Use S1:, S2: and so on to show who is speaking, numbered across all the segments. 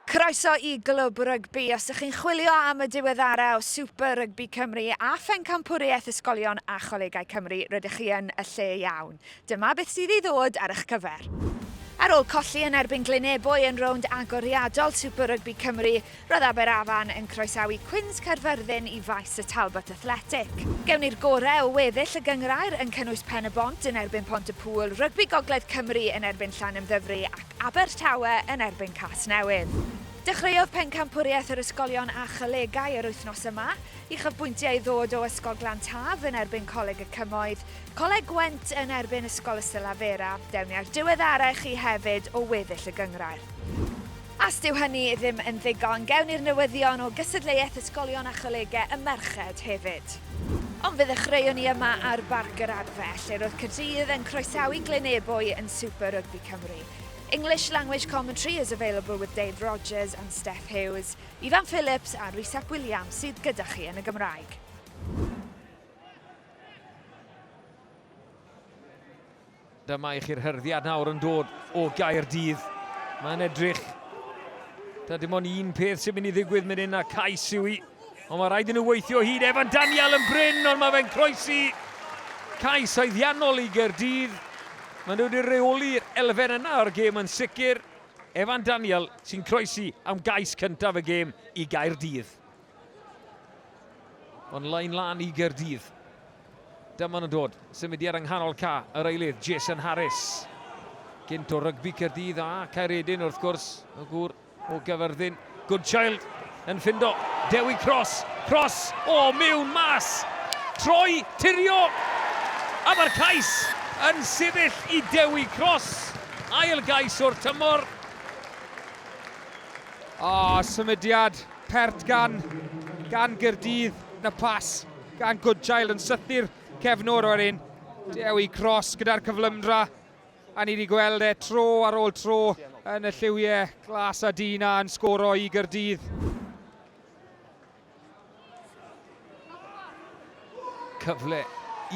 S1: Croeso i Glwb Rygbi. Os ydych chi'n chwilio am y diweddara o Super Rygbi Cymru a Phencampwriaeth Ysgolion a Cholegau Cymru, rydych chi yn y lle iawn. Dyma beth sydd i ddod ar eich cyfer. Ar ôl colli yn erbyn Glynebwy yn rownd agoriadol Super Rygbi Cymru, Roedd Aberafan yn croesawu Cwins Caerfyrddin i faes y Talbot Athletic. Gewn ni'r gorau o weddill y gynghrair yn cynnwys Pen-y-bont yn erbyn Pont-y-pŵl, Rygbi Gogledd Cymru yn erbyn Llanymddyfri ac Abertawe yn erbyn Casnewydd. Dechreuodd Pencampwriaeth yr Ysgolion a Cholegau yr wythnos yma. Uchafbwyntiau i ddod o Ysgol Glantaf yn erbyn Coleg y Cymoedd, Coleg Gwent yn erbyn Ysgol Ystalavera. Dewn ni â'r diweddarau i chi hefyd o weddill y gynghrair. Os dyw hynny ddim yn ddigon, gewn ni'r newyddion o gystadleuaeth ysgolion a cholegau y merched hefyd. Ond fe ddechreuon ni yma ar Barc yr Adfe, lle roedd Caerdydd yn croesawu Glyn Ebwy yn Super Rugby Cymru. English language commentary is available with Dave Rogers and Steph Hughes. Ifan Phillips a Rhys ap Williams sydd gyda chi yn y Gymraeg.
S2: Dyma i chi'r hyrddiad nawr yn dod o Gaerdydd. Mae'n edrych. Da dim ond un peth sy'n mynd i ddigwydd mynd hyn a cais yw i. Ond mae rhaid i nhw weithio hyd Evan Daniel yn bryn, ond mae fe'n croesi cais haeddiannol i Gerdydd. Mae nhw wedi reoli'r elfen yna o'r gêm yn sicr. Evan Daniel sy'n croesi am gais cyntaf y gêm i Gaerdydd. Ond lain lan i Gaerdydd. Dyma nhw'n dod. Symudiad yng nghanol ca yr eilydd, Jason Harris. Gynt o rygbi Caerdydd a Caeredin wrth gwrs, y gŵr o Gyfyrddin. Goodchild yn ffindo Dewi Cross. Cross o mewn mas. Troi, tirio. A mae'r cais yn sefyll i Dewi Cross. Ail gais o'r tymor.
S3: A symudiad Pert gan gan Gaerdydd, na phas gan Goodchild yn sythu'r cefn o'r wedyn. Dewi Cross gyda'r cyflymdra a ni wedi gweld e tro ar ôl tro yn y lliwiau glas a du na yn sgoro i Gaerdydd.
S2: Cyfle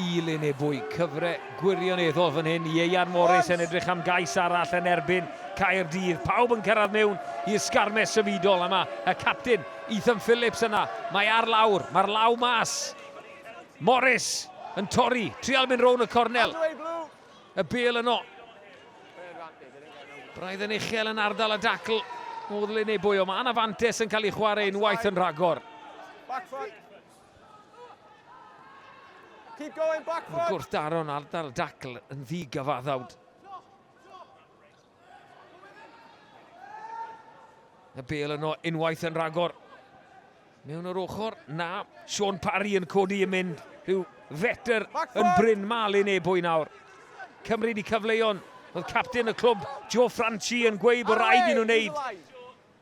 S2: i Linebwy, cyfre gwirioneddol fan hyn. Ieuan Morris yn edrych am gais arall yn erbyn Caerdydd. Pawb yn cyrraedd mewn i'r sgarmes symudol yma. Y captain, Ethan Phillips yna. Mae ar lawr, mae'r law mas. Morris yn torri, trial mynd rown y cornel. y bel yno. Braidd yn uchel yn ardal y dacl. Modd le neu bwy o man a fantes yn cael ei chwarae unwaith yn rhagor. Keep
S4: going, back foot. Gwrth daron ardal
S2: dacl yn ddigyfaddawd. Y bel yno unwaith yn rhagor. Mewn yr ochr, na, Sean Parry yn codi yn mynd. Rhyw fetr yn Bryn Mal yn ebwy nawr. Cymru di cyfleuon. Oedd captain y clwb, Joe Franchi, yn gweud bod rhaid i nhw wneud.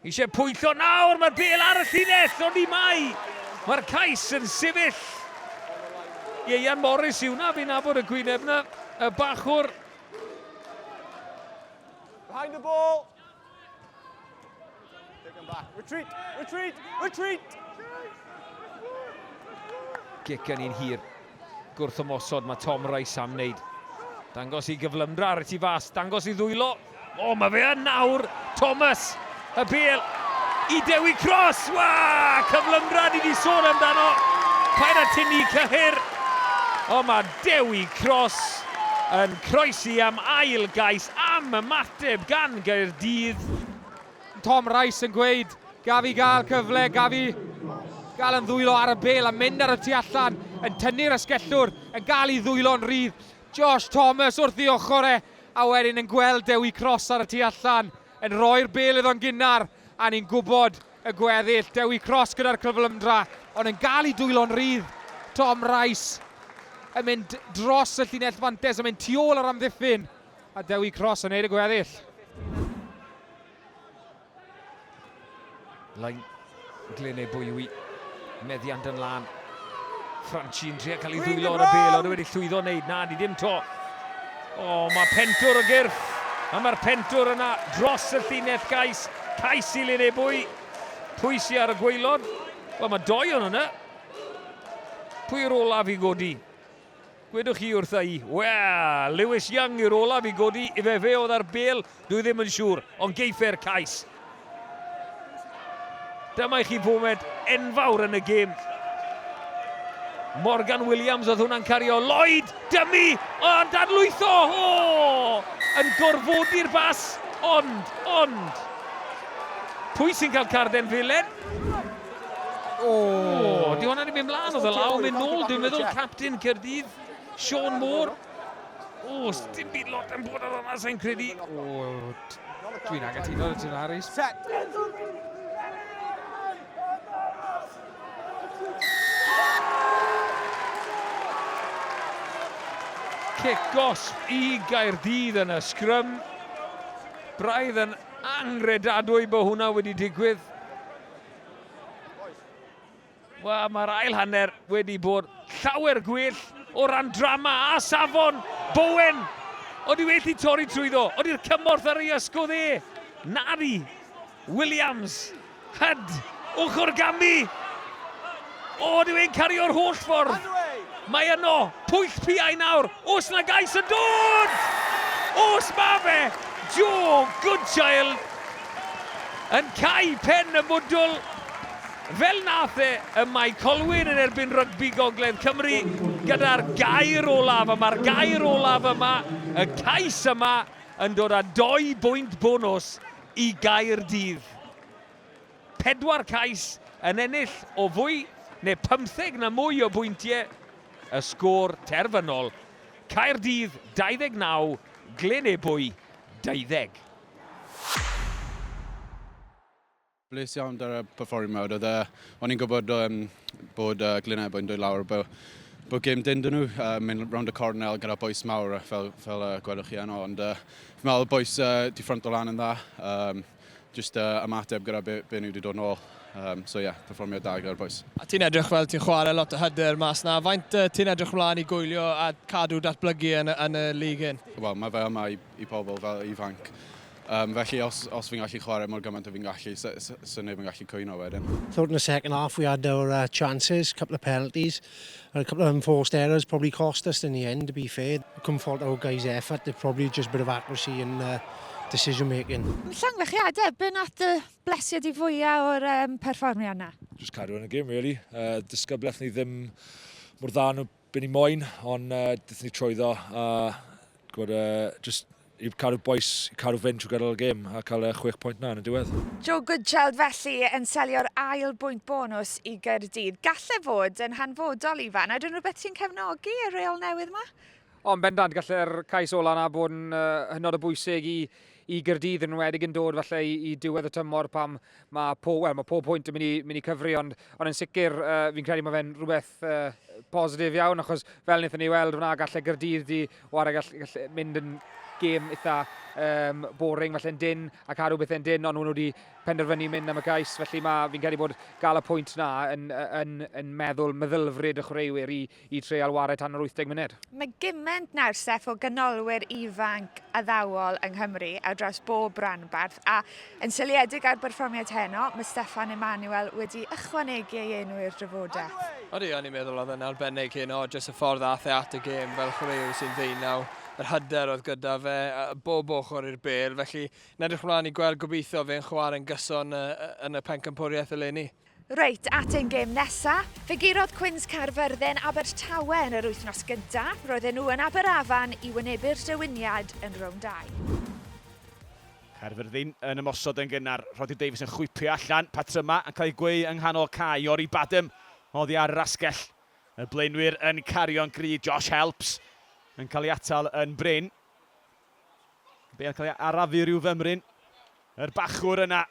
S2: Eisiau pwyntio nawr, mae'r bel ar y llinell, ond ni mai! Mae'r cais yn sefyll. Ieuan Morris yw na, fi'n nabod y gwyneb na, y bachwr.
S4: Behind the ball. Take them back. Retreat, retreat, retreat!
S2: Gic yn un hir. Gwrthymosod mae Tom Rice am wneud. Dangos i gyflymdra ar y tu fas, dangos i ddwylo. O, mae fe yn nawr! Thomas, y bel i Dewi Cross! Wa! Cyflymdra ni wedi sôn amdano. Paid a tynnu cyhyr. O, mae Dewi Cross yn croesi am ail gais am ymateb gan Gaerdydd. Tom
S3: Rice yn gweud, gaf i gael cyfle, gaf i gael yn ddwylo ar y bel a mynd ar y tu allan, yn tynnu'r asgellwr, yn gael i ddwylo'n rhydd. Josh Thomas wrth ei ochr e, a wedyn yn gweld Dewi Cross ar y tu allan, yn rhoi'r bel iddo'n gynnar, a ni'n gwybod y gweddill. Dewi Cross gyda'r cyflymdra, ond yn gael i dwylo'n rhydd. Tom Rice yn mynd dros y llinell fantes, yn mynd tu ôl ar amddiffyn. A Dewi Cross yn neud y gweddill.
S2: Lain Glyn ei bwywi. Meddiant yn lan. Franchi'n trio cael ei ddwylo ar y bel, ond wedi llwyddo wneud. Na, ni dim to. O, oh, mae pentwr o gyrff. A mae'r pentwr yna dros y llinell gais. Cais i Lyn ei bwy. Pwy sy'n ar y gweilod? Wel, mae doi o'n yna. Pwy yw'r olaf i godi? Gwedwch chi wrtha i, Wel, Lewis Young yw'r olaf i godi, ife fe oedd â'r bêl? Dwi ddim yn siŵr, ond geiffe'r cais. Dyma i chi foment enfawr yn y gêm. Morgan Williams oedd hwnna'n cario. Lloyd, dymu, o, yn dadlwytho, o! Yn gorfodi'r bas, ond, ond. Pwy sy'n cael carden felen? O! Di hwnna wedi mynd mlaen o fel awr mynd nôl, dwi'n meddwl captain Cyrdydd, Sean Moore. O, dim byd lot yn bod ar hwnna, sa'n credu. O, dwi'n
S3: agatuno y tyn Harris. Set!
S2: Cicos i Gaerdydd yn y sgrym. Braidd yn angredadwy bod hwnna wedi digwydd. Wel, mae'r ail hanner wedi bod llawer gwell o ran drama a safon. Bowen, oedd i wedi torri trwyddo, oedd i'r cymorth ar ei ysgwyd e. Nari, Williams, Hyd, ochr gamu. O, dyw e'n cario'r holl ffordd! Mae yno! Pwyll piau nawr! Os na gais yn dod! Os ma fe! Joe Goodchild yn cau pen y mwdwl fel nath e ym Mae Colwyn yn erbyn Rygbi Gogledd Cymru gyda'r gair olaf a ma'r gair olaf yma, y cais yma yn dod â dou bwynt bonws i Gaerdydd. Pedwar cais yn ennill o fwy neu pymtheg na mwy o bwyntiau y sgôr terfynol, Caerdydd 29, Glyn Ebwy 20.
S5: Bles iawn 'da'r perfformiad. Oedd e... o'n i'n gwybod yym bod yy Glyn Ebwy yn dod lawr bo' bo' gêm dynn 'da nhw yy mynd rownd y cornel gyda bois mawr fel fel yy gwelwch chi yno ond yy fi'n meddwl bois yy 'di ffrynto lan yn dda. Yym. jyst uh, ymateb gyda be, be nhw wedi dod nôl. Um, so ie, yeah, performiad da gyda'r boys. A ti'n edrych fel ti'n
S6: chwarae lot o hyder mas na. Faint uh, ti'n edrych mlaen i gwylio a cadw datblygu yn, yn y lig hyn? Wel, mae fe yma i,
S5: i pobl fel ifanc. Um, felly, os, os fi'n gallu chwarae mor gymaint o fi'n gallu, sy'n so, so neb yn gallu cwyno wedyn. Thought in the second half
S7: we had our uh, chances, couple of penalties. A couple of unforced errors probably cost us in the end, to be fair. I couldn't fault our guys' effort, it probably just a bit of accuracy and uh, decision making. Llongychiadau, be
S1: nath dy blesiau di fwyaf o'r um, perfformiad yna? Just cadw yn y gym, really.
S8: Uh, disgybleth ni ddim mor dda nhw byn ni moyn, ond uh, dydyn ni trwyddo. Uh, gwrdd, uh, just i cadw bois, i cadw fynd trwy gydol y gêm a cael y chwech pwynt na yn y diwedd. Joe Goodchild
S1: felly yn selio'r ail bwynt bonws i Gaerdydd. Galle fod yn hanfodol, Ifan, a dyn rhywbeth sy'n cefnogi y reol newydd yma? Ond bendant,
S3: galle'r cais ola yna bod yn uh, hynod o bwysig i, i Gyrdydd yn wedig yn dod falle i, i diwedd y tymor pam mae po, well, mae pob pwynt yn mynd i, mynd i cyfri ond, ond yn sicr uh, fi'n credu mae fe'n rhywbeth beth uh, positif iawn, achos fel wnaethon ni weld wna gallu Gyrdydd di wario gallu, gallu mynd yn gêm eitha um, boring falle'n dyn a cadw bethau'n dyn, ond nhw wedi penderfynu mynd am y gais, felly mae fi'n credu bod gael y pwynt na yn, yn, yn meddwl meddylfryd y chwaraewyr i, i treial wario tan yr 80 munud. Mae gymaint nawr, Steph,
S1: o ganolwyr ifanc addawol yng Nghymru ar draws bob rhanbarth, a Yn seiliedig ar berfformiad heno, mae Steffan Emmanuel wedi ychwanegu ei enw i'r drafodaeth. Ydy, o'n i'n meddwl oedd
S6: e'n arbennig heno, jyst y ffordd aeth e at y gêm fel chwaraewr sy'n ddeunaw, yr hyder oedd gyda fe, bob ochr i'r bêl, felly yn edrych ymlaen i gweld gobeithio fe'n chwarae'n gyson yn y pencampwriaeth eleni. Reit, at ein
S1: gêm nesa. Fe gurodd Cwins Caerfyrddin Abertawe yn yr wythnos gynta. Roedden nhw yn Aberafan i wynebu'r dewiniad yn rownd 2.
S4: Caerfyrddin yn ymosod yn gynnar. Rhodri Davies yn chwipio allan. Patrymau yn cael ei gweu yng nghanol cae. Iori Badham oddi ar yr asgell. Y blaenwyr yn cario'n gry. Josh Helps yn cael ei atal yn brin. Be yn cael ei arafu rhyw fymryn. Yr bachwr yna.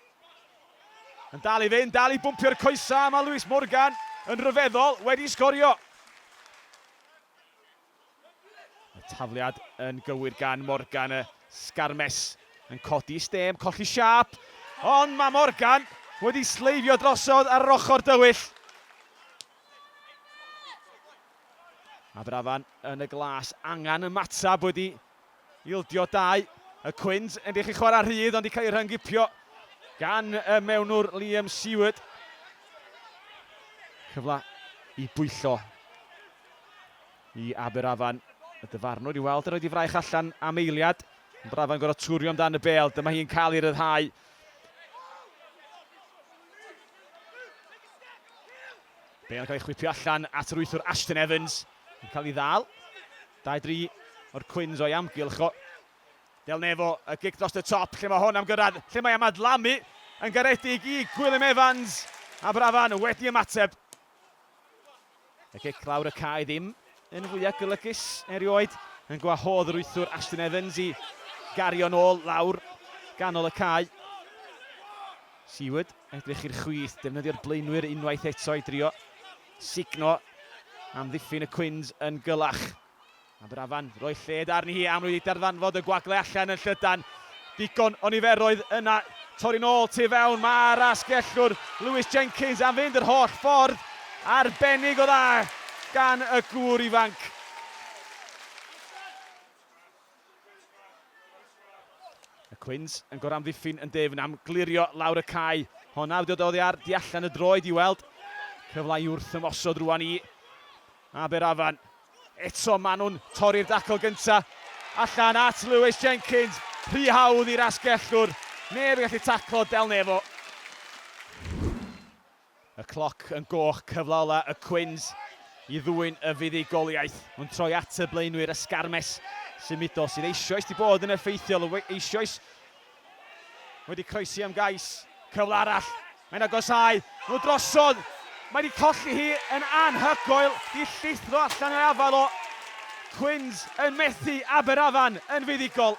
S4: Yn dal i fynd, dal i bwmpio'r coesau, mae Lewis Morgan yn ryfeddol, wedi sgorio. Y tafliad yn gywir gan Morgan, y sgarmes yn codi stêm, colli siap, ond mae Morgan wedi sleifio drosodd ar yr ochr dywyll. Aberafan yn y glas, angen ymateb wedi Ildio dau, y Cwins yn dych i chwarae rhydd ond i cael ei rhyngipio gan y mewnwr Liam Seward. Cyfle i bwyllo i Aberafan. Y dyfarnwr i weld yr oed i fraich allan am eiliad. Aberafan gorau twrio amdano y bel, dyma hi'n cael ei ryddhau. Bel yn cael ei chwipio allan at yr wythwr Ashton Evans. Yn cael ei ddal. Dau dri o'r Cwins o'i amgylch o. Del Nevo, y gic dros y top, lle mae hon am gyrraedd, lle mae am adlamu yn garedig i Gwilym Evans, a Brafan wedi ymateb. Y gic lawr y cae ddim yn fwyaf golygus erioed, yn gwahodd yr wythwr Ashton Evans i gario'n ôl lawr ganol y cae. Seward, edrych i'r chwith, defnyddio'r blaenwyr unwaith eto i drio Sugno amddiffyn y cwins yn gyllach. Aberafan roi lled arni hi am wedi darfanfod y gwagle allan yn llydan. Digon o niferoedd yna, torri'n ôl tu fewn, mae'r asgellwr Lewis Jenkins am fynd yr holl ffordd. Arbennig o dda gan y gŵr ifanc. Y Cwins yn goramddiffyn yn dyfn am glirio lawr y cae. Hon awdiodd oddi ar di allan y droed i weld. Cyfle i wrth ymosod rwan i Aberafan. Eto maen nhw'n torri'r dacl gynta. Allan at Lewis Jenkins. Rhy hawdd i'r asgellwr. Neb yn gallu taclo Del Nevo. Y cloc yn goch, cyfle ola y Quins i ddwyn y fuddugoliaeth. Nhw'n troi at y blaenwyr ysgarmes sy'n mudo, sydd eisioes 'di bod yn effeithiol, eisioes wedi croesi am gais. Cyfle arall, mae'n agosáu nhw drosodd, mae wedi colli hi yn anhygoel, di llithro allan o'i afael o. Quins yn methu Aberafan yn fuddugol.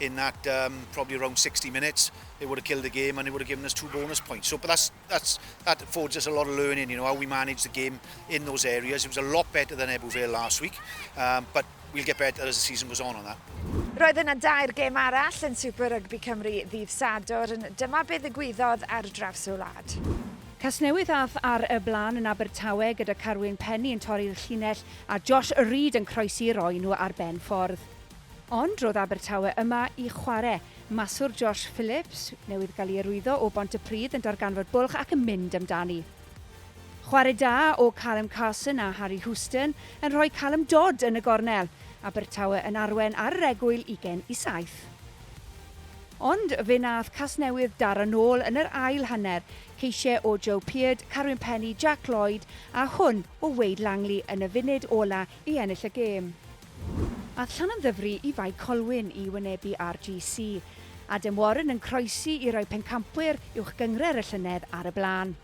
S9: in that um, probably around 60 minutes, they would have killed the game and they would have given us two bonus points. So, but that's, that's, that affords us a lot of learning, you know, how we manage the game in those areas. It was a lot better than Ebu Vale last week, um, but we'll get better as the season goes on on that. Roedd yna dair
S1: gêm arall yn Super Rugby Cymru ddydd Sadwr, yn dyma be ddigwyddodd ar draws y wlad. Casnewydd
S10: ath ar y blaen yn Abertawe gyda Carwyn Penny yn torri'r llinell a Josh Reid yn croesi roi nhw ar ben ffordd. Ond roedd Abertawe yma i chware. Maswr Josh Phillips, newydd gael ei arwyddo o Bontypridd yn darganfod bwlch ac yn mynd amdani. Chwarae da o Callum Carson a Harry Houston yn rhoi Callum Dodd yn y gornel. Abertawe yn arwen ar yr egwyl ugain i saith. Ond fe nath Casnewydd daro nôl yn yr ail hanner, ceisiau o Joe Peard, Carwyn Penny, Jack Lloyd a hwn o Wade Langley yn y funud ola i ennill y gêm. Aeth Llanymddyfri i Fae Colwyn i wynebu RGC. Adam Warren yn croesi i roi pencampwyr uwch gyngred y llynedd ar y blaen.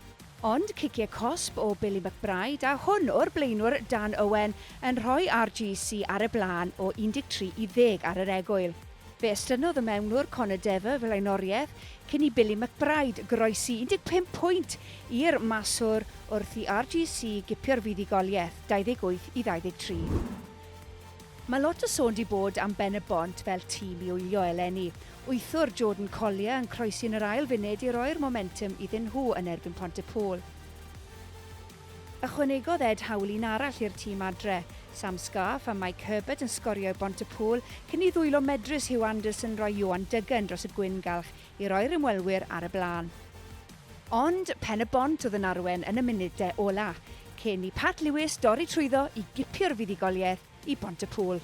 S10: Ond ciciau cosb o Billy McBride a hwn o'r blaenwr Dan Owen yn rhoi RGC ar y blaen o 13 i ddeg ar yr egwyl. Fe estynnodd y mewnwr Conor Dever flaenoriaeth cyn i Billy McBride groesi 15 pwynt i'r maswr wrth i RGC gipio'r fuddugoliaeth, 28 i 23. Mae lot o sôn 'di bod am Ben-y-bont fel tîm i wylio eleni. Wythwr Jordan Collier yn croesi yn yr ail funud i roi'r momentwm iddyn nhw yn erbyn Pontypôl. Ychwanegodd Ed hawl un arall i'r tîm adre. Sam Scarfe a Mike Herbert yn sgorio i Bontepŵl cyn i ddwylo medrus Huw Anderson roi Ioan Duggan dros y gwyn galch i roi'r ymwelwyr ar y blaen. Ond Pen-y-bont oedd yn arwen yn y munudau ola', cyn i Pat Lewis dorri trwyddo i gipio'r fuddugoliaeth i Bont-y-pŵl.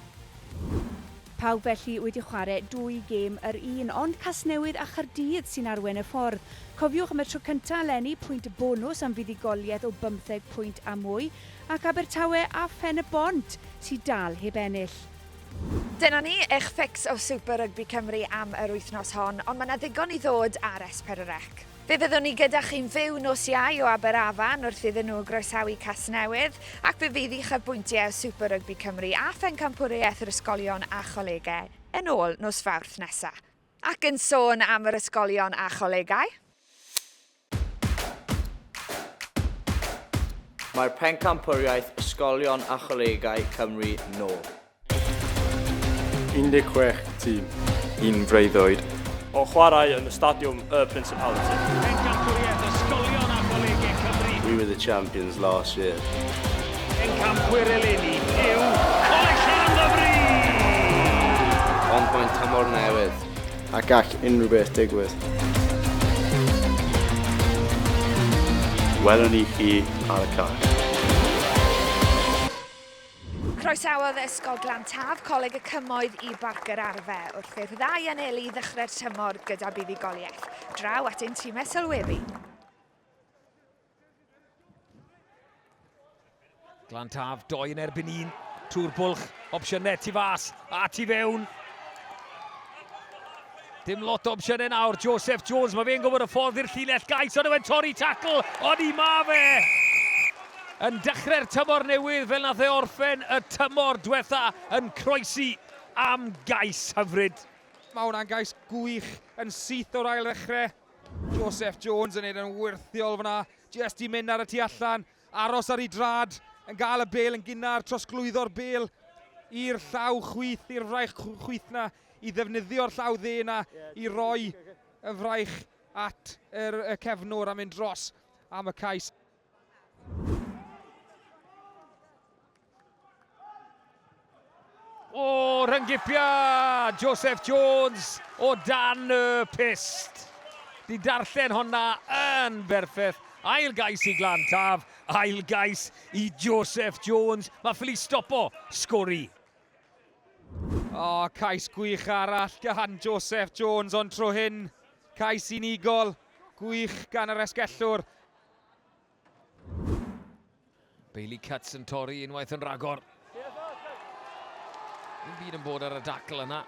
S10: Pawb felly wedi chware dwy gêm yr un, ond Casnewydd a Chardydd sy'n arwen y ffordd. Cofiwch am y tro cyntaf eleni pwynt bonws am fuddugoliaeth o bymtheg pwynt a mwy, ac Abertawe a Phen-y-bont sy dal heb ennill. Dyna
S1: ni, eich fix o Super Rygbi Cymru am yr wythnos hon, ond mae 'na ddigon i ddod ar S4C. Fe fyddwn ni gyda chi'n fyw nos Iau o Aberafan wrth iddyn nhw groesawu Casnewydd, ac fe fydd uchafbwyntiau o Super Rugby Cymru a Phencampwriaeth yr Ysgolion a Cholegau yn ôl nos Fawrth nesa. Ac yn sôn am yr Ysgolion a Cholegau.
S11: Mae'r Pencampwriaeth Ysgolion a Cholegau Cymru nôl.
S12: 16 tîm. Yn freuddwyd.
S13: O chwarae
S12: yn y Stadiwm y Principality. Pencampwriaeth ysgolion
S2: a
S12: cholegau Cymru. We were
S11: the champions last year.
S2: Pencampwyr eleni yw Coleg Llanymddyfri!
S11: Ond mae'n tymor newydd. A gall unrhyw beth digwydd. Welwn ni chi ar y cais.
S1: Croesawodd Ysgol Glan Taf Coleg y Cymoedd i Barc yr Arfe wrth i'r ddau anelu ddechrau'r tymor gyda buddugoliaeth. Draw at ein timau sylwebu.
S2: Glan Taf, doi yn erbyn un. Tŵr bwlch, opsiynau tu fas a tu fewn. Dim lot o opsiynau nawr, Joseph Jones, mae fe'n gwybod y ffordd i'r llinell gais, ond yw'n torri tacl, ond i ma fe! Yn dechrau'r tymor newydd fel nath e orffen y tymor diwetha yn croesi am gais hyfryd. Mae hwnna'n gais
S3: gwych yn syth o'r ail ddechrau. Joseph Jones yn neud yn wyrthiol fyna, jest i mynd ar y tu allan. Aros ar ei drad, yn gael y bel yn gynnar, trosglwyddo'r bel i'r llaw chwith, i'r fraich chwith na, i ddefnyddio'r llaw dde na, i roi y fraich at yr, y cefnwr a mynd dros am y cais.
S2: O, rhyngipia! Joseph Jones o dan y pist. Di darllen honna yn berffeth. Ail gais i Glan Taf, ail gais i Joseph Jones. Mae ffili stopo sgori. O,
S3: cais gwych arall gan Joseph Jones, ond tro hyn, cais unigol, gwych gan yr esgellwr.
S2: Bailey Cuts yn torri unwaith yn ragor. Yn byd yn bod ar y dacl yna.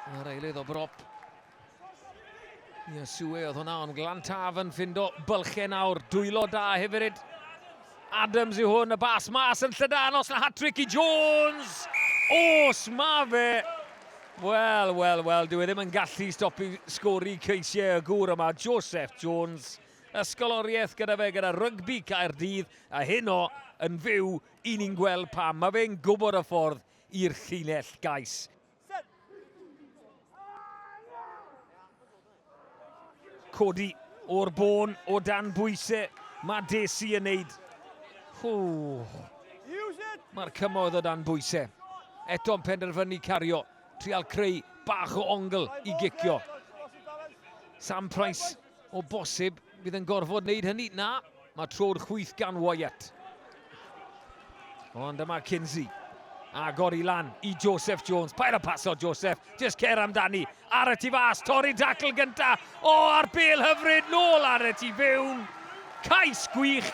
S2: Yn yr eilydd o brop. Ia, Sue oedd hwnna, ond glan taf yn ffindo bylchau nawr. Dwylo da hefyd. Adams yw hwn, y bas mas yn llydan, os na hat-trick i Jones! Os ma fe! Wel, wel, wel, dwi e ddim yn gallu stopi sgori ceisiau y gŵr yma, Joseph Jones. ysgoloriaeth gyda fe gyda rygbi Caerdydd a heno yn fyw i ni'n gweld pam mae fe'n gwybod y ffordd i'r llinell gais. Codi o'r bôn o dan bwysau. Mae Desi yn neud. Mae'r cymoedd o dan bwysau. Eto'n penderfynu cario. Trial creu bach o ongl i gicio. Sam Price O bosib, bydd yn gorfod wneud hynny. Na, mae tro'r chwyth gan Wyatt. Ond dyma Kinsey. Agor i lan i Joseph Jones. Pair y paso, Joseph. Just cer amdani. Ar y tu fas, torri dacl gynta. O, ar bel hyfryd, nôl ar y tu fewn. Cais gwych.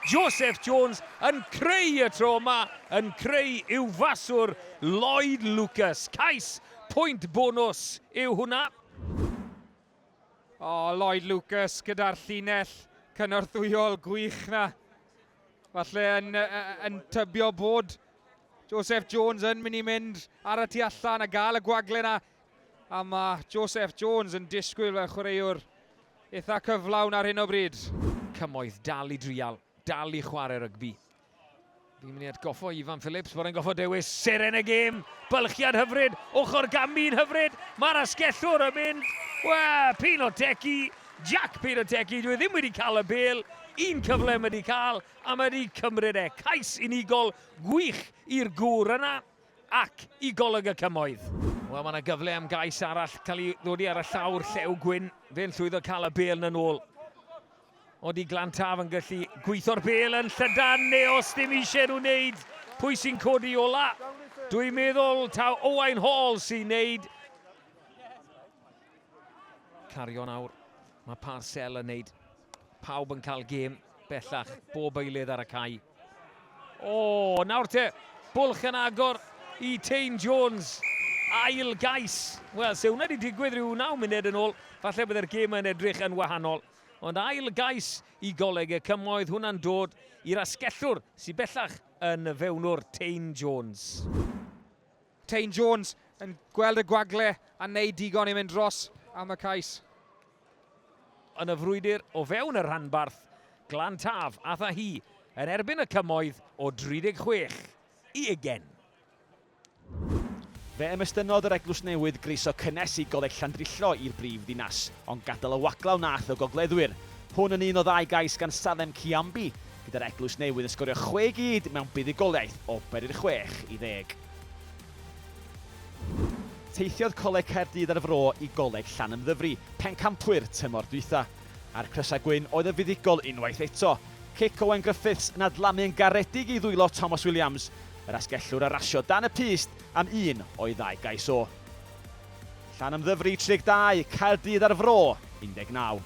S2: Joseph Jones yn creu y tro yma, yn creu i'w faswr Lloyd Lucas. Cais pwynt bonus yw hwnna. O,
S3: Lloyd Lucas gyda'r llinell cynorthwyol gwych na. Falle yn, yn tybio bod Joseph Jones yn mynd i mynd ar y tu allan a gael y gwagle na. A mae Joseph Jones yn disgwyl fel chwaraewr eitha cyflawn ar hyn o bryd. Cymoedd dal
S2: i drial, dal i chwarae rygbi. Fi'n mynd i atgoffo Ifan Phillips bod e'n goffo dewis seren y gêm. Bylchiad hyfryd, ochr gambi'n hyfryd. Mae'r asgellwr yn mynd, we, pyn o decu. Jack pyn o decu, dwi e ddim wedi cael y bel. Un cyfle mae wedi cael, a mae wedi cymryd e. Cais unigol gwych i'r gŵr yna ac i golwg y cymoedd. Wel, mae yna gyfle am gais arall cael ei ddodi ar y llawr llew gwyn. Fe'n llwyddo cael y bel yn ôl. Odi Glantaf yn gallu gweitho'r bel yn llydan neu os dim eisiau nhw wneud, pwy sy'n codi ola? Dwi'n meddwl taw Owain Hall sy'n wneud. Cario nawr, mae Parcell yn wneud. Pawb yn cael gêm bellach, bob eilydd ar y cae. O, nawr te, bwlch yn agor i Tein Jones. Ail gais. Wel, se hwnna wedi digwydd rhyw naw munud yn ôl, falle byddai'r gêm yn edrych yn wahanol. Ond ail gais i Goleg y Cymoedd hwnna'n dod i'r asgellwr sy bellach yn fewnwr Tein Jones.
S3: Tein Jones yn gweld y gwagle a wneud digon i mynd dros am y cais.
S2: Yn y frwydr o fewn y rhanbarth, Glan Taf a Thahi yn erbyn y Cymoedd o 36 i ugen.
S4: Fe ymestynnodd yr Eglwys Newydd groeso cynnes i Goleg Llandrillo i'r brif ddinas, ond gadael y waglau wnaeth y gogleddwyr. Hwn yn un o ddau gais gan Salem Kyambi, gyda'r Eglwys Newydd yn sgorio chwe gyd mewn buddugoliaeth o beri'r chwech i ddeg. Teithiodd Coleg Caerdydd a'r Fro i Goleg Llanymddyfri, Pencampwyr, tymor dwytha. A'r crysau gwyn oedd yn fuddugol unwaith eto. Cic Owen Griffiths yn adlamu yn garedig i ddwylo Tomos Williams, Yr asgellwr a rasio dan y pyst am un o'i ddau gais o. Llanymddyfri 32, Caerdydd a'r Fro 19.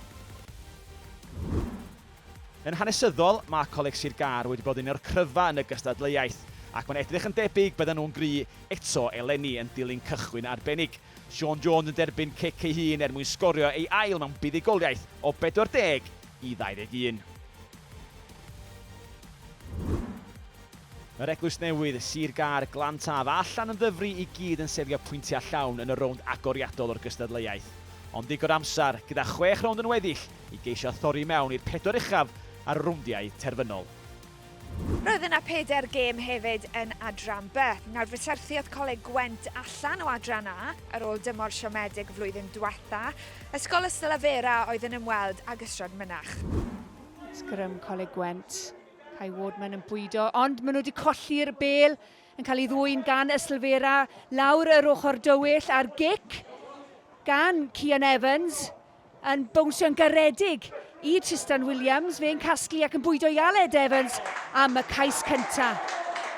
S4: Yn hanesyddol, mae Coleg Sir Gâr wedi bod yn un o'r cryfa yn y gystadleuaeth, ac mae'n edrych yn debyg byddan nhw'n gry eto eleni yn dilyn cychwyn arbennig. Siôn Jones yn derbyn cic ei hun er mwyn sgorio ei ail mewn buddugoliaeth o 40 i 21. Mae'r eglwys newydd, Sir Gâr, Glan Taf a Llan yn Ddyfri i gyd yn seilio pwyntiau llawn yn y rownd agoriadol o'r gystadleuaeth. Ond digon o amser, gyda chwech rownd yn weddill, i geisio thorri i mewn i'r pedwar uchaf ar y rowndiau terfynol.
S1: Roedd yna pedair gêm hefyd yn Adran B. Nawr, fe syrthiodd Coleg Gwent allan o Adran A ar ôl dymor siomedig y flwyddyn diwetha'. Ysgol Ystalyfera oedd yn ymweld ag Ystrad Mynach. Sgrym
S10: Coleg Gwent. Kai Wardman yn bwydo, ond maen nhw wedi colli'r bel yn cael ei ddwyn gan Yslfera lawr yr ochr dywyll a'r gic gan Cian Evans yn bownsio'n garedig i Tristan Williams. Fe'n casglu ac yn bwydo i Aled Evans am y cais cynta.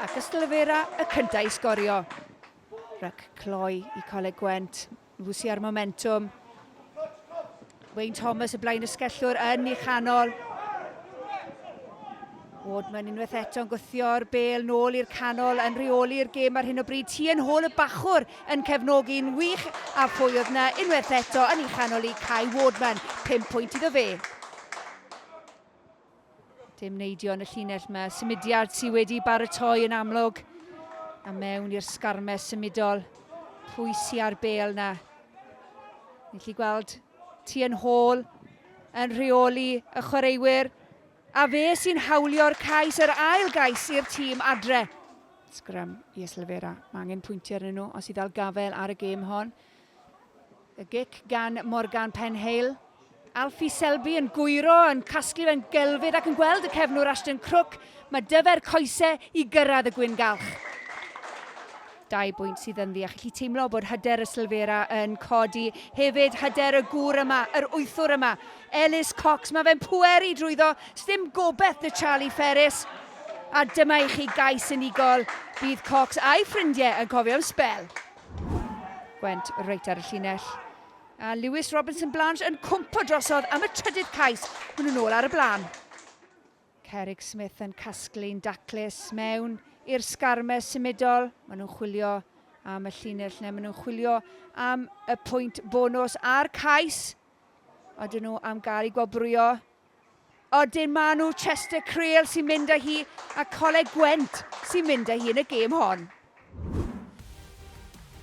S10: Ac Yslfera y cynta i sgorio. Rhac cloi i Coleg Gwent. Lucy ar momentum. Wayne Thomas y blaen ysgellwr yn ei chanol. Wardman unwaith eto'n gwythio'r bel nôl i'r canol yn rheoli'r gêm ar hyn o bryd. Ti yn hôl y bachwr yn cefnogi'n wych a phwy oedd na unwaith eto yn ei chanol i Kai Wardman. 5 pwynt iddo fe. Dim neidio yn y llinell mae symudiad sydd wedi baratoi yn amlwg. A mewn i'r sgarmes symudol. Pwy sy'n ar bel na? Ni'n lli gweld ti yn hôl yn rheoli y chwaraewyr. A fe sy'n hawlio'r cais, yr ail gais i'r tîm adre. Sgrym i Yslefera. Mae angen pwyntiau arnyn nhw os i ddal gafel ar y gêm hon. Y gic gan Morgan Penhale. Alfie Selby yn gwyro, yn casglu fe'n gelfydd ac yn gweld y cefnwr Ashton Crook. Mae dyfer coese i gyrraedd y gwyn galch. Dau bwynt sydd yn ddi a chi teimlo bod hyder y Sylfera yn codi. Hefyd hyder y gŵr yma, yr wythwr yma, Ellis Cox. Mae fe'n pweru drwyddo, sdim gobeth na Charlie Ferris. A dyma i chi gais unigol, bydd Cox a'i ffrindiau yn cofio am sbel. Gwent reit ar y llinell. A Lewis Robinson Blanche yn cwmpo drosodd am y trydydd cais. Hwn yn ôl ar y blaen. Cerig Smith yn casglu'n daclus mewn i'r sgarme symudol. Maen nhw'n chwilio am y llinell neu maen nhw'n chwilio am y pwynt bonus a'r cais. Oedden nhw am gael ei gwobrwyo. Odyn maen nhw Chester Creal sy'n mynd â hi a Coleg Gwent sy'n mynd â hi yn y gêm hon.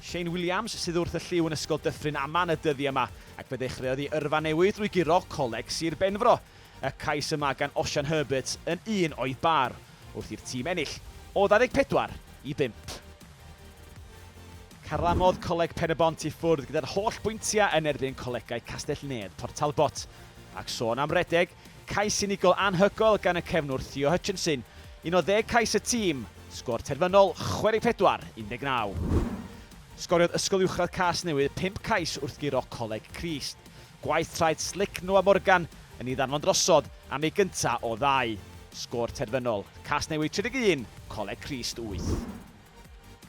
S4: Shane Williams sydd wrth y llyw yn Ysgol Dyffryn Aman y dyddi yma ac fe ddechreuodd i yrfa newydd drwy guro Coleg Sir Benfro. Y cais yma gan Osian Herbert yn un o'i bar wrth i'r tîm ennill o 24 i 5. Carlamodd Coleg Pen-y-bont i ffwrdd gyda'r holl bwyntiau yn erbyn Colegau Castell-nedd Port Talbot. Ac sôn am redeg, cais unigol anhygoel gan y cefnwr Theo Hutchinson, un o ddeg cais y tîm, sgôr terfynol 64, 19. Sgoriodd Ysgol Uwchradd Casnewydd pump cais wrth guro Coleg Crist. Gwaith traeth slic Noah Morgan yn ei ddanfon drosodd am ei gynta' o ddau. Sgôr terfynol, Casnewydd 31, Coleg Crist wyth.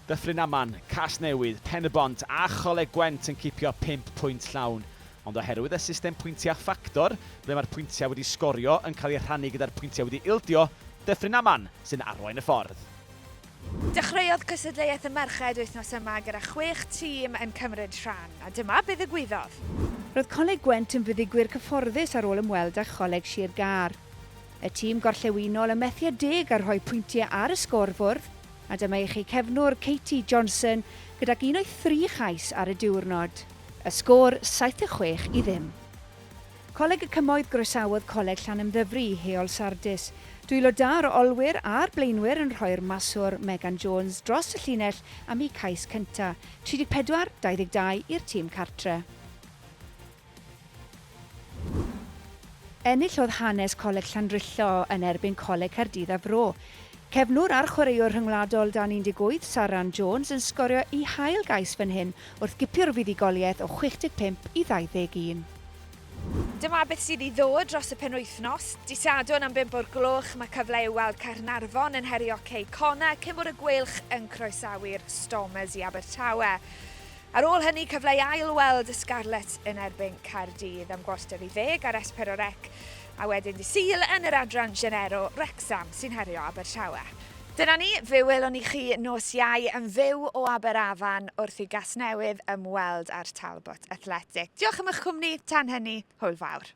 S4: Dyffryn Aman, Casnewydd, Pen-y-bont a Choleg Gwent yn cipio pump pwynt llawn, ond oherwydd y system pwyntia' ffactor, ble mae'r pwyntiau wedi sgorio yn cael eu rhannu gyda'r pwyntiau wedi ildio, Dyffryn Aman sy'n arwain y ffordd.
S1: Dechreuodd Cystadleuaeth y Merched wythnos yma gyda chwech tîm yn cymryd rhan, a dyma be ddigwyddodd. Roedd Coleg
S10: Gwent yn fuddugwyr cyfforddus ar ôl ymweld â Choleg Sir Gâr. Y tîm gorllewinol yn methu â deg a rhoi pwyntiau ar y sgôr-fwrdd, a dyma i chi cefnwr Katie Johnson gydag un o'i thri chais ar y diwrnod. Y sgôr, saith a chwech i ddim. Coleg y Cymoedd Groesawodd Coleg Llanymddyfri i Heol Sardis. Dwylo da yr olwyr a'r blaenwyr yn rhoi'r maswr, Megan Jones, dros y llinell am eu cais cynta', 34, 22, i'r tîm cartre'. Enillodd hanes Coleg Llandrillo yn erbyn Coleg Caerdydd a Fro. Cefnwr a'r chwaraewr rhyngwladol dan 18, Saran Jones, yn sgorio ei hail gais fan hyn wrth gipio'r fuddugoliaeth o 65 i 21.
S1: Dyma beth sydd i ddod dros y penwythnos. Dydd Sadwrn am bump o'r gloch mae cyfle i'w weld Caernarfon yn herio Cei Connah cyn bod y Gweilch yn croesawu'r Stormers i Abertawe. Ar ôl hynny cyfle i ail weld y Scarlets yn erbyn Caerdydd am gwarter i ddeg ar S4C. A wedyn dydd Sul yn yr adran Genero, Wrecsam sy'n herio Abertawe. Dyna ni, fe welwn ni chi nos Iau yn fyw o Aberafan wrth i Gasnewydd ymweld â'r Talbot Athletic. Diolch am eich cwmni, tan hynny, hwyl fawr.